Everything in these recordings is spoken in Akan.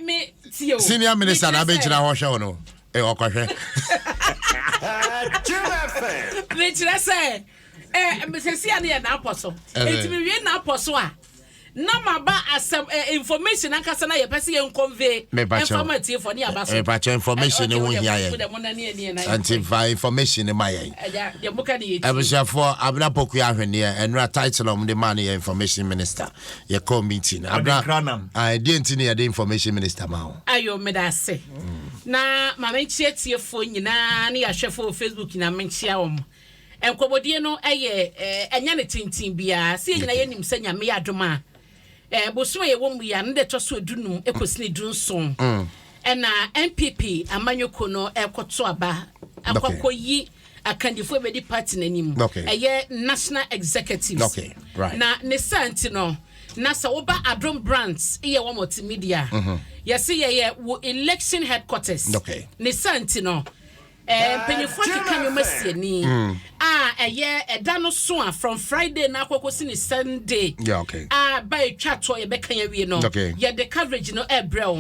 me tie o. Senior minister na abɛgyina hɔ hwɛ wo no. Eh, ɔkɔhwɛ. mekyerɛ sɛ eh, sɛsi a no yɛ naapɔ so ɛti mewie naapɔ so a na maba asɛm eh, information ankasa na yɛpɛ sɛ yɛnconvey ɛmfama atiefoɔ ne yɛaba so mepakyɛ information ne ho hia yɛn ɛnti fa information ne ma yɛn abusuafoɔ abena poku ahweneɛ ɛnora title ɔm de maa no yɛ information minister yɛkɔ meeting abra ah, ɛdeɛ nti ne yɛde information minister ma wo ayo meda ase mm. na ma menkyea tiefoɔ nyinaa ne yɛahwɛfoɔ wɔ facebook nyinaa menkyea wɔ m nkɔmmɔdie no ɛyɛ eh, ɛnyɛ ne tenten biara sɛ yɛ nyinaa yɛnim sɛ nyame yɛ adom a eh, bosom a yɛwɔ mu yɛ no de ɛtɔ so adunum ɛkɔsi ne dunson mm. ɛna npp amanyɔkuo no ɛkɔto aba akɔkɔyi okay. akandifo a ebedi party no anim. Okay. Ɛyɛ national executives. Okay. Right. Na ne saa nti no, na sɛ woba Adom brands yɛ wɔn multimedia. Mm-hmm. Yɛsi yɛyɛ wo election headquarters. Okay. Ne saa nti no. Eh, mpanyinfoɔ keka nneɛma sie ni mm. a ɛyɛ ɛda no so a from friday na akɔkɔ si ne sunday a ba etwa toɔ yɛbɛka yɛ wie no yɛde coverage no ɛbrɛ o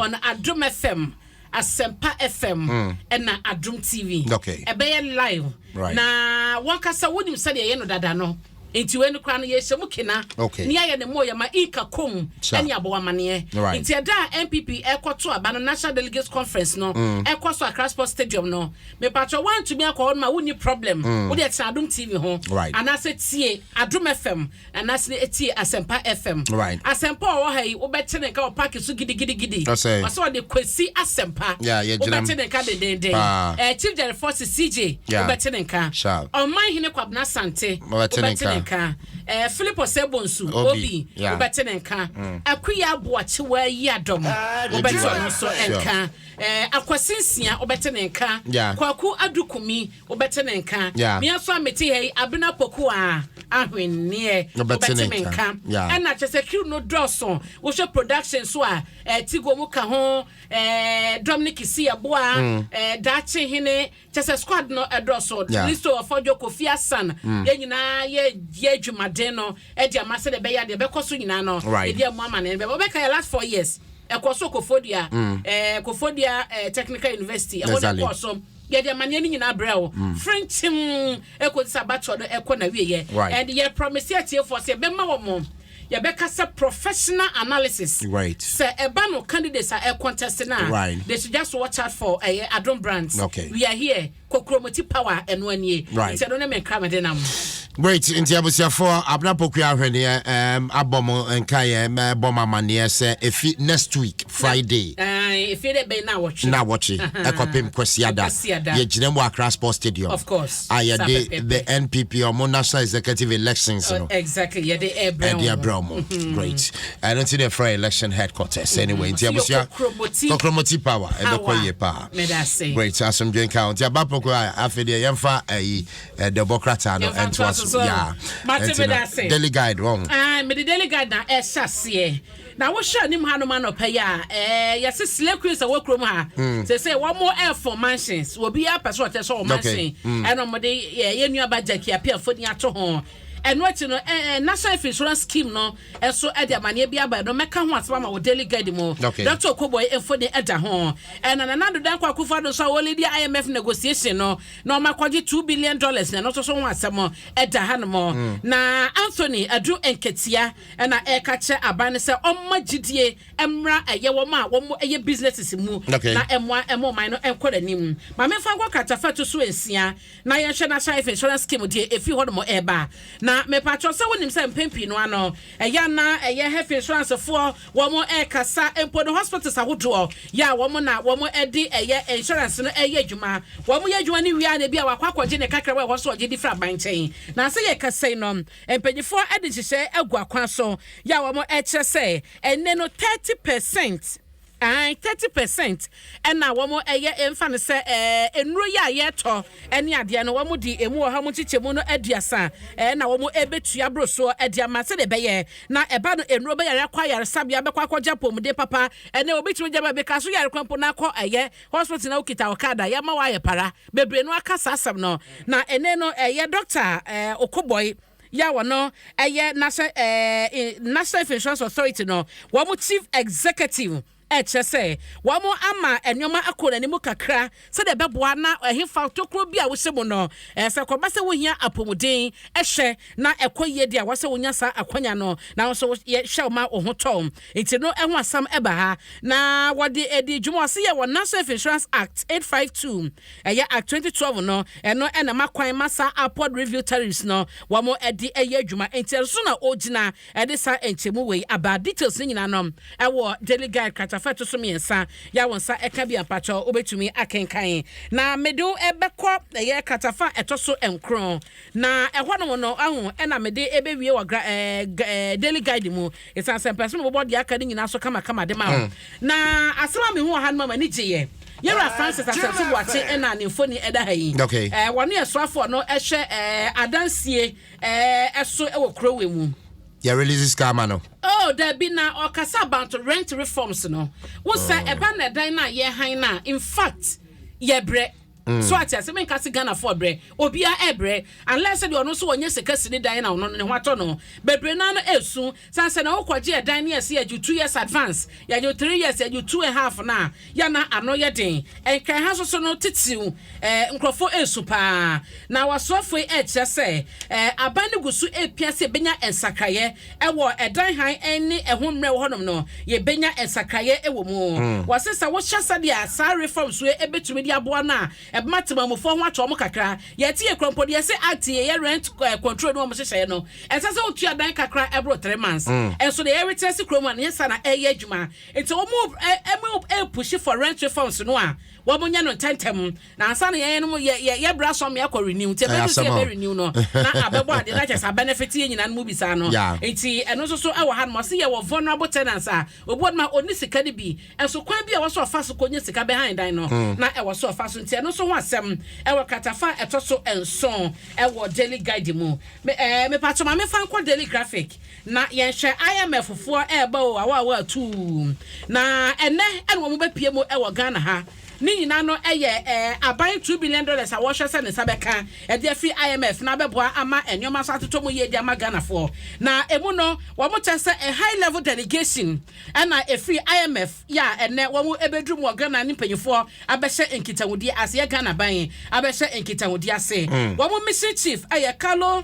on adom fm Asempa FM ɛna Adum TV ɛbɛyɛ live na wankasa wonim sɛdeɛ ɛyɛ no dada no nti wei no koraa no yɛhyɛ mu kena ne yɛayɛ ne mmɔɔ yɛma inka kom ne abɔ amaneɛ nti ɛda a npp ɛkɔto aba no national delegates conference no mm. ɛkɔ so akra sports stadium no mepatrɔ woantumi akɔ hɔ no ma wonni problem mm. wode ɛtena adom tv ho anaasɛ tie adom fm Anaase na etie Asɛmpa FM. Right. Asɛmpa a ɔwɔ ha yi, wobɛte ne nka wɔ park so gidigidigidi. Ɔsɛe. Ɔsɛ ɔde Kwesi Asɛmpa. Yeah, yɛgyina mu. Wobɛte ne nka dendeenden. Paa. Eh, Chief Jerry Fossey, CJ, Yeah. wobɛte ne nka. Sharp. Ɔman Hene Kwabena Asante, Wobɛte ne wobɛte ne nka. nka. Eh, Philip Osei Bonsu, Obi. Obi, Yeah. wobɛte ne nka. Akuya Aboakyewa Yiadom, Ade wobɛte Ebiwa. ɔno nso Sure. nka. Eh, Akwasi Nsia, wobɛte ne nka. Yeah. Kwaku Adu Kumi, Wobɛte me nka. Me nso a mete ha yi, Abena Poku a, ahwenneɛ. Wobɛte me nka. Ɛna kyerɛ sɛ crew no dɔɔso. Wohwɛ production nso a, eh, Tigo mu ka ho, eh, Dominic Isiaboa, mm. eh, Daakye Hene, kyerɛ sɛ squad no ɛdɔɔso. Yeah. Listo Ɔfɔdwo, Kofi Asan, mm. yɛn nyinaa yɛ yɛ adwumaden no ɛde ama sɛ deɛ ɛbɛyɛ deɛ ɛbɛkɔ so nyinaa no. Right. Ebi a mu ama no ɛbɛbɛ. Wobɛka yɛ last four years ɛkɔ so kofodua mm. eh, kofodua eh, technical university ɛhɔ na ɛkɔ so Yɛde amaneɛ no nyinaa brɛ wo frenkyem ɛkɔsi sɛ abatoɔ no ɛkɔ n'awieɛ and yɛ promise atiefoɔ sɛ yɛbɛma wɔn yɛbɛka sɛ professional analysis sɛ ɛba no candidates a ɛcontest no a they should just watch out for ɛyɛ Adom Brands we are here Kokuromoti power ɛno anie nti ɛno ne me nkramede nam. Great nti abusuafoɔ Abena Poku ahweneɛ um, abɔ mo nkaeɛ bɔ mo amanneɛ sɛ efi next week Friday efi dɛ bɛn na wɔtwe na wɔtwe ɛkɔpem Kwasiada yɛgyina mu Accra Sports Stadium of course a yɛde the NPP ɔmo national executive elections no exactly yɛde ɛbrɛ ɛde abrɛ ɔmo great ɛno nti na ɛfrɛ election headquarters anyway nti abusua kokromoti power ɛbɛkɔ yie paa great asomdwe nka nti abapoko a afei deɛ yɛmfa ayi Eh, the book krataa no ɛntoa so yaa ɛnti na daily guide wɔn. Ah, mede daily guide na ɛhyɛ aseɛ na wohwɛ anim ha nom anɔpɛ yi a ɛɛ yɛse slay queens a wɔ kurom ha hmm. sɛ sɛ wɔn mo ɛfo mansions obi apɛ so ɔkyɛ sɛ ɔmo mansion hmm. ɛna ɔmo de yɛ yɛ nua ba jackie apia foni ato ho ɛno akyi no ɛɛ national health insurance scheme no ɛso ɛde amaneɛ bi aba ɛno mɛka ho asɛm ama wɔ daily guide mu dɔkta okoboy mfoni ɛda ho ɛna nana dodo akɔ akufo ado so a wɔledi imf negotiation no na ɔma kɔgye two billion dollars na ɛno nso so ho asɛm ɛda hanom na Anthony Adu Nketia ɛna ɛka kyerɛ aban no sɛ ɔmma gyidie mmra ɛyɛ wɔn a wɔn ɛyɛ businesses mu na ɛmoa ɛmo ɔman no ɛnkɔ n'anim ma mefa nkɔ kratafa to so nsia na yɛnhwɛ National Life Insurance Scheme deɛ ɛfiri hɔnom ɛba na mepatwɔ sɛ wonim sɛ mpɛn pii no ano Ɛyɛ a na ɛyɛ health insurance foɔ wɔn ɛkasa mpo no hospitals ahodoɔ yɛ a wɔn na wɔn ɛde ɛyɛ insurance no ɛyɛ adwuma wɔn yɛ adwuma no wie a na ebi a wakɔ akɔgye ne kakra wɔ ɛhɔ nso ɔgye di firi aban nkyɛn na sɛ yɛkasa yi no mpaninfoɔ ɛde nhyehyɛɛ agu akwan so yɛ a wɔn ɛkyerɛ sɛ ɛnnɛ no thirty percent Aane, thirty percent na wɔn yɛ mfa no sɛ ɛɛ nnuro yi a yɛtɔ ɛne adeɛ no wɔn de ɛmu ɔha mu nkyekyɛmu no aduasa ɛɛ na wɔn ɛbɛtua boro soɔ de ama sɛdeɛ ɛbɛyɛ na ɛba no nnuro bɛyare akɔ ayaresabea bɛkɔ akɔ gya apɔmuden papa ɛnɛ obi tumi gya baabi ka so yare kwan mpo na akɔ ɛyɛ hospital na okita ɔkada yɛma wɔ ayɛ para bebree no aka saa asɛm no na ɛnɛ no ɛyɛ doctor ɛɛ okobɔe. yi a ɔno yɛ National ɛɛ National Health Insurance Authority no wɔn chief executive ɛkyerɛ sɛ wɔn ama nneɛma akɔ n'anim kakra sɛdeɛ ɛbɛboa na ɛhefa tokuro bi a wohyɛ mu no ɛsɛ kɔba sɛ wohia apɔmuden ɛhwɛ na ɛkɔ yie deɛ wɔsɛ wonya saa akwanya no na nso yɛhwɛ wɔn a wɔn ho tɔ nti no ɛho asɛm ɛba ha na wɔde adi dwuma ɔsɛ yɛ wɔ National Health Insurance Act 852 Ɛyɛ a twenty twelve no, ɛno na ɛma kwan ma saa upward review tariffs no wɔde yɛ adwuma. Enti ɛno so na ɔregyina de saa nkyɛmu wei aba. Details no nyinaa no ɛwɔ Daily Guide kratafa a ɛto so mmiɛnsa yi a wo nsa ɛka bi a mpakyɛw wobɛtumi akenkan. Na mede wo ɛbɛkɔ ɛyɛ kratafa a ɛtɔ so nkron. Na ɛhɔnom no, wahu, ɛna mede ɛbɛwie wɔ gra ɛɛ ɛɛ Daily Guide mu. Esiane sɛ mpɛ sɛ mebobɔ deɛ aka no nyinaa so kamakama de ma wo. Na asɛm a mehuu wɔ ha no maa m'ani gyeeɛ. Yɛn Wura Francis Asante Boakye na ne mfoni da ha yi. Wɔno yɛ soafoɔ a ɔno hwɛ adansie so wɔ kuro wei mu. Yɛ release sika ama no. Oh dabi na ɔkasa about rent reforms no. Wo sɛ ɛba na ɛdan no a yɛhan no a infact yɛbrɛ. Mm. So ate ase? Menka se Ghanafoɔ rebrɛ. Obiara rebrɛ. Unless sɛ deɛ ɔno nso ɔnyɛ sika sini dan na ɔno no ne ho atɔ no. Bebree no ara no resu. Sane sɛ na wokɔgye ɛdan ne yɛse yɛgye wo two years advance, yɛgye wo three years, yɛgye wo two and half no a, yɛ na ano yɛ den. Nkran ha nso so no titiriw eh, nkurɔfoɔ resu pa ara. Na w'asoɛfoɔ yi rekyerɛ sɛ eh, aban no gu so repia sɛ yɛbɛnya nsakraeɛ. wɔ ɛdan hann ne ɛho mmerɛw hɔnom no, yebenya nsakrae wɔ mu. Wɔse sɛ wohyɛ sɛnea saa we fam su yi betumi de aboa no a, ɛbɛma temamufo ho atɔ wɔn kakra. Yɛte yɛ kura mpo de, yɛse act yi, ɛyɛ rent control no a wɔhyehyɛe no, ɛnsɛ sɛ wotua dan kakra a ɛboro three months. Nso nea yɛretra ase kurom ha no, ɛnyɛ saa na ɛreyɛ adwuma. Enti wɔn a wɔrepushi for rent we fam su no a, wɔnyɛ no ntɛmntɛm. Na ansa na yɛn nom yɛ yɛ yɛ bra sɔm yɛ kɔ renew nti ɛbɛ du sɛ ɛbɛ renew no na abɛ bɔ adeɛ na kyɛ sɛ abɛ ne fete yɛ nyinaa no mu bi saa no nti ɛno nso so ɛwɔ ha nom ɔsi yɛ wɔ vulnerable tenants a obi wɔ nom a ɔni sika no bi nso kwan bi a ɛwɔ so ɔfa so kɔ nya sika bɛ han dan no hmm. na ɛwɔ so ɔfa so nti ɛno nso ho asɛm ɛwɔ kratafa a ɛtɔ so nson ɛwɔ daily guide mu me ɛɛ eh, mepa kyɛma mefa nkɔ daily graphic na yɛn hwɛ IMF foɔ ɛɛba o awa awa atuu na ɛnɛ ɛna wɔn bɛ pie mu ɛwɔ Ghana ha. Ne nyinaa no yɛ aban two billion dollars a wɔhwɛ sɛ ne nsa bɛka de afi IMF na abɛboa ama nneɛma so atotɔ mu yie de ama Ghanafoɔ. Na ɛmu no wɔn kyɛ sɛ high level delegation na ɛfiri IMF yɛ a ɛnnɛ wɔn bɛduru mu wɔ Ghana ne mpanyinfoɔ abɛhyɛ nkitahodie ase yɛ Ghana aban abɛhyɛ nkitahodie ase. Wɔn mission chief yɛ Carlo.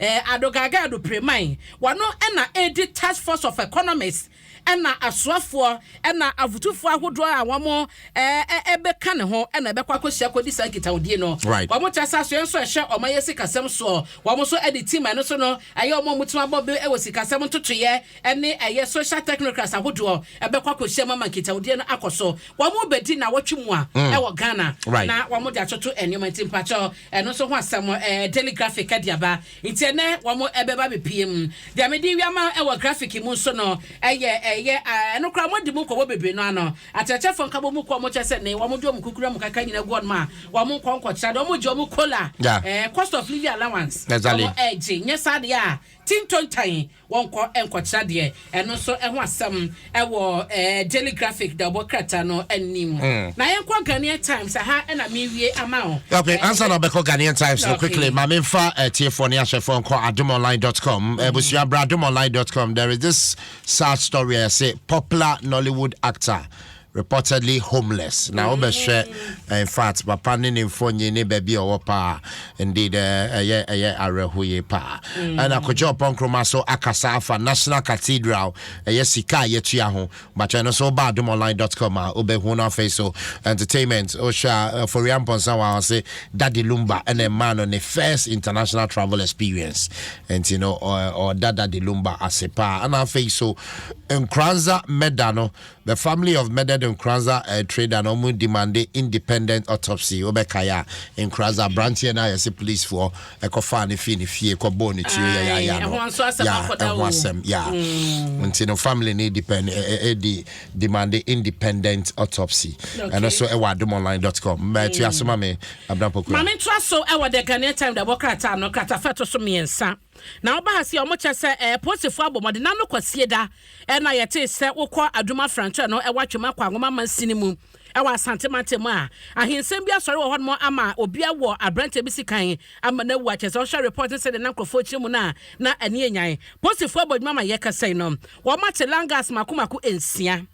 Adogage Adupremai, ɔno na edi Task Force of Economists na asoafoɔ na afotufoɔ ahodoɔ a wɔn bɛka ne ho na ɛbɛkɔ akɔhyia akɔdi saa nkitahodie no. Wɔn kyerɛ sɛ asoɛɛ nso a ɛhwɛ ɔman yɛ sikasɛm soɔ, wɔn nso de tim a ɛno nso no ɛyɛ wɔn a wɔtumi abɔ bɛ wɔ sikasɛm ntotoeɛ ne ɛyɛ social technocrats ahodoɔ ɛbɛkɔ akɔhyia mu ama nkitawodie no akɔ so. Wɔbɛdi nnawɔtwe mu a mm. ɛwɔ Ghana right. na wɔde atoto nneɛma nti mpakyɛ ɛno nso ho asɛm eh, daily graphic ɛde aba nti ɛnɛ wɔn ɛbɛba bepie mu deɛ mede wiama ɛwɔ graphic mu nso no ɛyɛ ɛyɛ ɛno koraa wɔn adi mu nkɔmɔ bebree no ano akyerɛkyerɛfoɔ nkabɔ mu kɔ wɔn kyɛ sɛ ne wɔn de wɔn kukuru wɔn kaka nyina gu wɔn a wɔn nkɔ nkɔkyerɛ de wɔn gye wɔn kola ɛɛ eh, cost of living allowance wɔn ɛgye nyɛ saa deɛ a tintontan Wɔnkɔ nkɔtra deɛ, ɛno nso ho asɛm wɔ Daily Graphic da ɔbɔ krataa no anim. Mm. Na yɛnkɔ Ghanaian Times, aha na mewie ama wo. Okay, eh, ansa na ɔbɛkɔ Ghanaian Times no, okay. quickly, ma memfa uh, eh, tiefoɔ ne ahwɛfoɔ nkɔ adomonline.com. Mm. Eh, Busua bra adomonline.com. There is this sad story, I say, popular Nollywood actor reportedly homeless na wobɛhwɛ infact papa ne ne mfonyin ne baabi a ɔwɔ paa indeed ɛyɛ ɛyɛ awerɛho yie paa ɛna kɔgye ɔpɔ nkroma so akasa afa national cathedral ɛyɛ sika a yɛtua ho but ɛno so woba adomonline.com a wobɛhu no afei so entertainment wohwɛ a foria mpɔnsa wɔ ɔse dade lumba ɛna ɛmaa no ne first international travel experience nti no ɔda dade lumba ase paa ɛna afei so nkoranza mɛda no The family of murdered Nkoranza eh, trader na wɔn demande independent autopsy. Wobɛkae a, Nkoranza aberanteɛ no a yɛse policefoɔ ɛkɔfaa no fii ne fie kɔbɔɔ ne tuo yayaya no. Ya, ɛho asɛm, ya. Mm. Nti no family no depend, e, e, e, di, demande independent autopsy. Okay. Ɛno so ɛwɔ adomonline.com. Mma ɛtua so ma me, Abena Pokua. Ma mentoa so ɛwɔ The Ghanaian Time da bɔ krataa no, kratafa ɛto so mmiɛnsa. Na woba ha se wɔkyɛ sɛ ɛɛ polisifo abɔ mmɔden na no kwasieda na yɛtee sɛ wokɔ adwuma frankyerɛ no ɛwɔ atwam akɔ anwoma mansin no mu ɛwɔ asante mantam mu a ahensɛm bi asɔre wɔ hɔnom ama obia wɔ aberanteɛ bi si kan ama no awu akyɛ sɛ ɔhwɛ report ne sɛdeɛ na nkurɔfoɔ kyerɛ mu no a na ani anyan polisifo abɔ adwuma ma yɛkasa yi no wɔmate langas mako mako nsia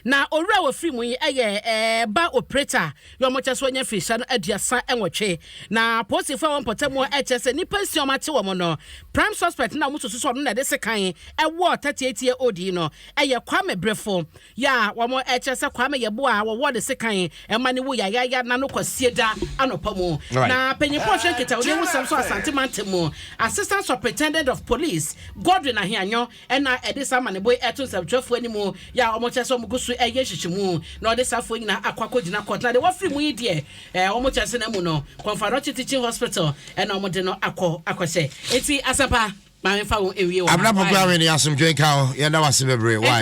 Na owura a wɔfiri mu yi yɛ ɛɛ ba opereta a yɛ wɔn kyɛ so anya mfirihyia no aduasa nwɔtwe. Na apolisifoɔ a wɔn mpɔtam a ɛkyɛ sɛ nnipa nsia wɔn ate wɔn no, prime suspect na wɔn susu sɛ ɔno na ɛde sekan ɛwɔ 38 year old yi no ɛyɛ Kwame Brefo yɛ a wɔn ɛkyɛ sɛ Kwame yɛ boa a wɔwɔ ne sekan ɛma ne wu yayaya na no kwasie da anɔpa mu. Na panyinfoɔ hwɛ nkitahodi ho sɛm so Asante mantam mu Assistant Superintendent of Police Godwin Ahianyo Ɛnna ɛde saa amanneɛbɔ yi to nsɛmtwerɛfoɔ anim, yɛ a wɔkyerɛ sɛ wɔgu so reyɛ nhyehyeɛmu, na wɔde saa afoɔ yi nyinaa akɔ akɔgyina kɔɔto, na deɛ wɔafiri mu yi deɛ, wɔn teaseɛnam mu no, Kɔnfadɔkye Teaching Hospital na wɔde no akɔ akɔhyɛ. Enti, Asɛmpa, ma memfa wo nwie wɔ ha. Abena Poku Ahwene, asomdwoe nka wo. Yɛda wo ase bebree. Why?